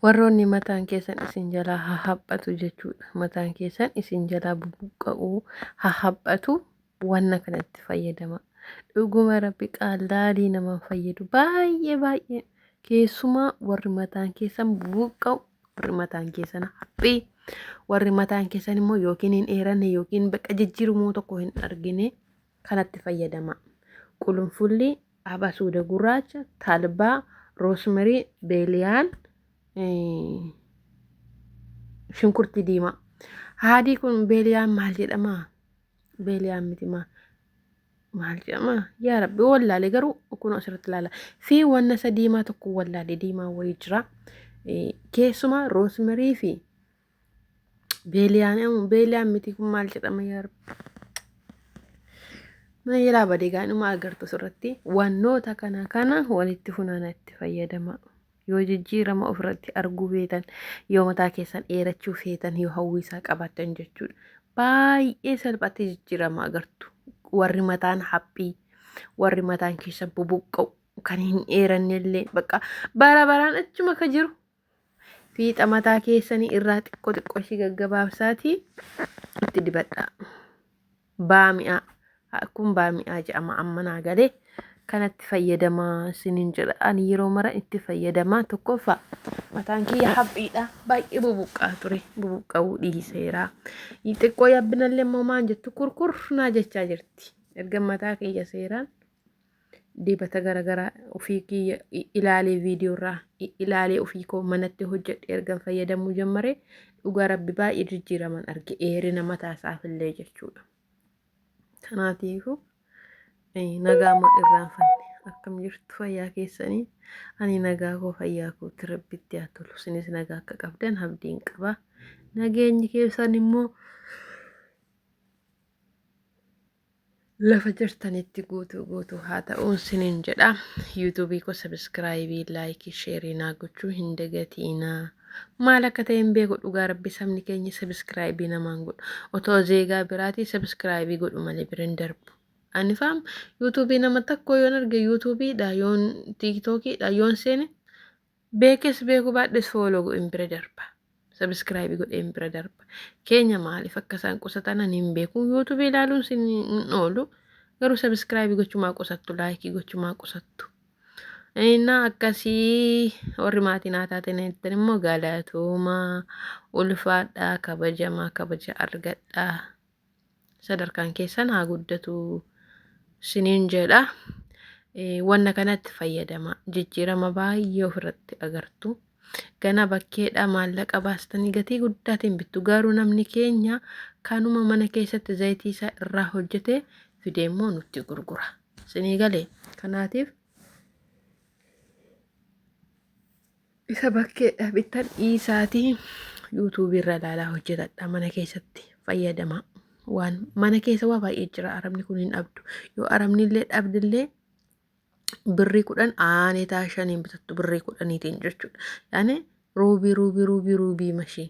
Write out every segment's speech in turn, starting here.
Warroonni mataan keessan isin jalaa haa haphatu jechuudha. Mataan keessan isin jalaa bubuqqa'uu haa haphatu wanna kanatti fayyadama. Dhuguma rabbi qaallaalii namaan fayyadu baay'ee baay'ee keessumaa warri mataan keessan bubuqqa'u warri mataan keessan haphii warri mataan keessan immoo yookiin hin dheeranne yookiin bakka jijjiirumoo tokko hin argine. kanatti fayyadamaa. Qulunfulli, abasuuda gurraacha, talbaa, roosmerii, beeliyaan, shunkurtii diimaa. Haadii kun beeliyaan maal jedhamaa? Beeliyaan miti maal? maal jedhama yaa rabbi wallaale garuu kun asirratti ilaala fi wanna isa diimaa tokko wallaale diimaa wayii jira keessumaa roosmarii fi Beeliyaan ammoo beeliyaan miti kun maal jedhama yaa rabbi. Mana jalaa badee gaa'inuma agartu asirratti wannoota kana kana walitti funaana itti fayyadama. Yoo jijjiirama ofirratti arguu feetan, yoo mataa keessan dheerachuu feetan, yoo hawwiisaa qabaatan jechuudha. Baay'ee salphaatti jijjiirama agartu. Warri mataan haphii, warri mataan keessa bubuqqa'u, kan hin dheerannellee bakka bara baraan achuma ka jiru Fiixa mataa keessanii irraa xiqqoo xiqqoo ishii gaggabaabsaatii itti dibadhaa. Baami'aa. Kun baami'aa jedhama amma naa galee. Kanatti fayyadamaa sinin jedha. Ani yeroo mara itti fayyadamaa tokkoffaa mataan kiyya haphiidha. Baay'ee bubuqqaa ture. Bubuqqa'uu dhiiseera. Xiqqoo yabbinallee immoo maan jettu kurkur naa jechaa jirti. Erga mataa kiyya seeraan dibata garagaraa ofii kiyya ilaalee viidiyoorraa ilaalee ofii koo manatti hojjedhe ergan fayyadamuu jammare dhugaa rabbi baay'ee jijjiiraman arge eerina mataa isaaf illee jechuudha. Kanaatiifu nagaa moo irraan fanne akkam jirtu fayyaa keessanii ani nagaa koo fayyaa kootti rabbitti haa tolu isinis nagaa akka qabdan abdiin qaba nageenyi keessan immoo Lafa jirtanitti guutuu guutuu haa ta'uun sinin jedha. Yuutuubii koo sabiskiraayibii, laayikii, sheerii naa gochuu hin dagatiinaa. Maal akka ta'e hin beeku dhugaa rabbi sabni keenya sabiskiraayibii namaan godhu. Otoo zeegaa biraatii sabiskiraayibii godhu malee bira hin darbu. Ani faam yuutuubii nama tokko yoon arge yuutuubiidha yoon tiiktookiidha yoon seene Beekes beekuu baadhes fooloo godheen bira darba. Sabiskiraayibii godheen bira darba. Keenya maaliif akka isaan qusatan ani hin beeku. Yuutuubii ilaaluun sin hin oolu. Garuu sabiskiraayibii gochumaa qusattu laayikii gochumaa qusattu. Innaa akkasii warri maatii naa taatan jettan immoo galatoomaa ulfaadhaa kabajamaa kabaja argadhaa. sadarkaan keessan haa guddatu siniin jedha wanna kanatti fayyadama jijjiirama baay'ee ofirratti agartu gana bakkeedha maallaqa baastanii gatii guddaatiin bittu garuu namni keenya kanuma mana keessatti zayitii isaa irraa hojjete fidee immoo nutti gurgura sinii galee kanaatiif Isa bakkee dhabittan dhiisaatii yuutuubii irra ilaalaa hojjetadha mana keessatti fayyadama. Waan mana keessa waa baay'ee jira arabni kun hin dhabdu. Yoo arabni illee dhabdillee birrii kudhan aanee taa shaniin bitattu birrii kudhaniitiin jechuudha. Yaani ruubii ruubii ruubii ruubii mashii.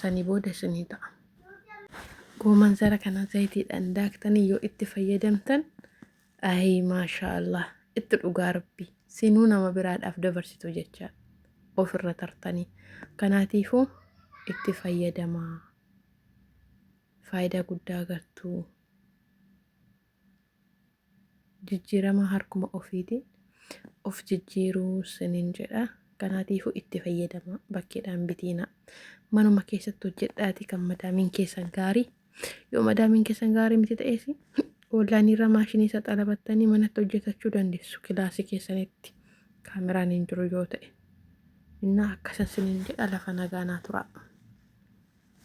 sanii booda isinii ta'a. Gooman zara kana zayitiidhaan daaktanii yoo itti fayyadamtan ayi maashaa Allah itti dhugaa rabbi sinuu nama biraadhaaf dabarsitu jecha ofirra tartanii kanaatiifuu itti fayyadamaa faayidaa guddaa gartuu. jijjiiramaa harkuma ofiitiin of jijjiiruu sinin jedha kanaatiifuu itti fayyadama bakkeedhaan bitiina manuma keessatti hojjedhaati kan madaamiin keessan gaarii yoo madaamiin keessan gaarii miti ta'ees oonlaayiniirra maashinii isa xalabattanii manatti hojjetachuu dandeessu kilaasii keessanitti kaameraan hin jiru yoo ta'e innaa akkasa sinin jedha lafa nagaanaa turaa.